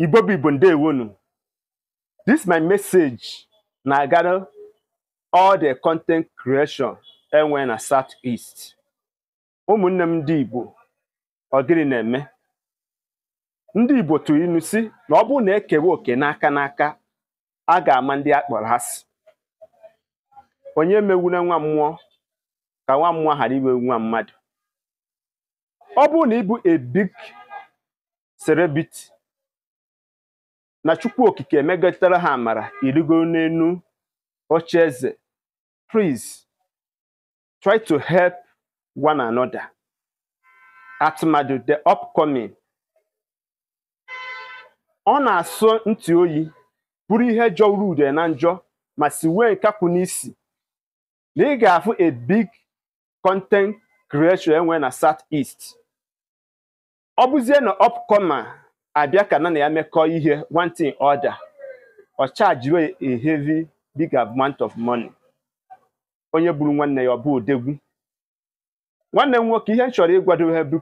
Igbo bụ Igbo ndewonụ this my message na-agara all the content creation e nwe na South East ụmụnne m ndị Igbo ọ gịnị na-eme ndị Igbo tụrụ inu sị na ọ bụrụ na e kewe oke n'aka n'aka a ga-ama ndị a kpọrọ asị onye megbula nwa mmụọ ka nwa mmụọ ghara iwe nwa mmadụ ọ bụrụ na ị bụ a big celebrity na chukwu okike emegatara ha amara i rigo n'elu oche eze please try to help one another atụmadụ the upcoming ọ na-asọ ntị oyi bụrụ ihe jọgburu udene njọ ma sigbue nkakwu n'isi na ị ga-afụ a big content creator e nwe na south east ọ bụzie na upcomer abịa ka ya na ya mekọọ ihe one thing or the other ọ chajiwe a heavy big amount of money onye gburu nwanne ya ọ bụ odogwu nwanne m nwoke ihe m chọrọ ịgwado ha bụ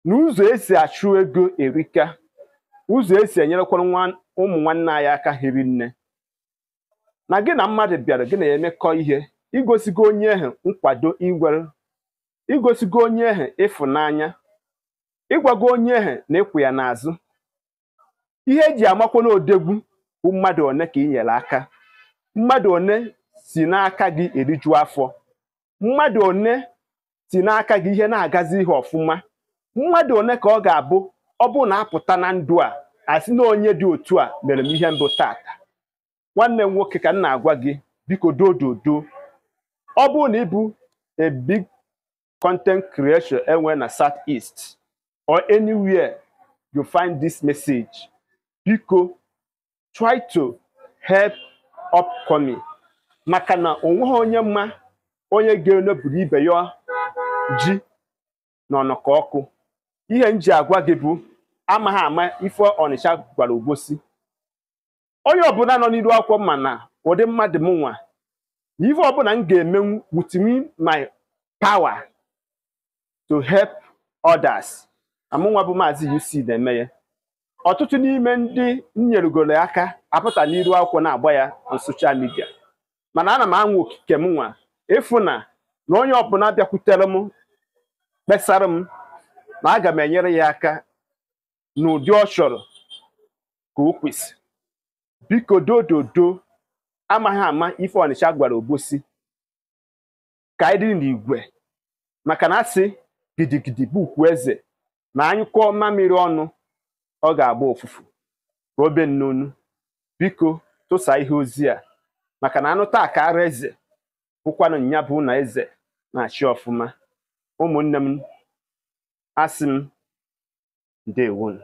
na ụzọ e si achụ ego erika ụzọ e si enyerekwara nwa ụmụ nwanne anyị aka hiri nne na gị na mmadụ bịara gị na ya emekọ ihe i gosigo onye ahụ nkwado igwere i gosigo onye ahụ ịfụnanya ị gwago onye ahụ na ị kwụ ya n'azụ ihe e ji amakwanụ odogwu bụ mmadụ one ka ị nyere aka mmadụ one si n'aka gị eriju afọ mmadụ one si n'aka gị ihe na-agazi ihe ọfụma mmadụ one ka ọ ga-abụ ọ bụrụ na a pụta na ndụ a a sị na onye dị otu a mere m ihe m bụ taata nwanne m nwoke ka m na-agwa gị biko dododo ọ bụrụ na ị bụ a big content creator e nwe na south east or anywhere you find this message biko try to help upcoming maka na o nweghị onye ma onye ga-eneburu ibe ya ji na ọnọkọ ọkụ ihe m ji agwa gị bụ amaghị ama ife ọnịcha gwara obosi onye ọbụla nọ n'iru akwụkwọ ma na ụdị mmadụ m nwa na ife ọbụla m ga-emenwu within my power to help others na mụ nwa bụ maazị UC na-eme ya ọtụtụ n'ime ndị m nyerugoro aka apụta n'iru akwụkwọ na-agba ya na social media mana ana m anwa oko ike m nwa ịfụ na na onye ọbụla bịakwutere m kpesara m na aga m enyere ya aka n'ụdị ọ chọrọ ka o kwesị biko dododo amaghị ama ife ọnịcha gwara obosi ka anyị dị n'igwe maka na a sị gidigidi bụ ugwu eze na a nyụkọọ mamịrị ọnụ ọ ga-agba ụfụfụ robe nnonu biko tụsa ihe ozi a maka na a nụta a kaara eze bụkwanụ nya bụ na eze na-achị ọfụma ụmụnne m asị m ndewo nụ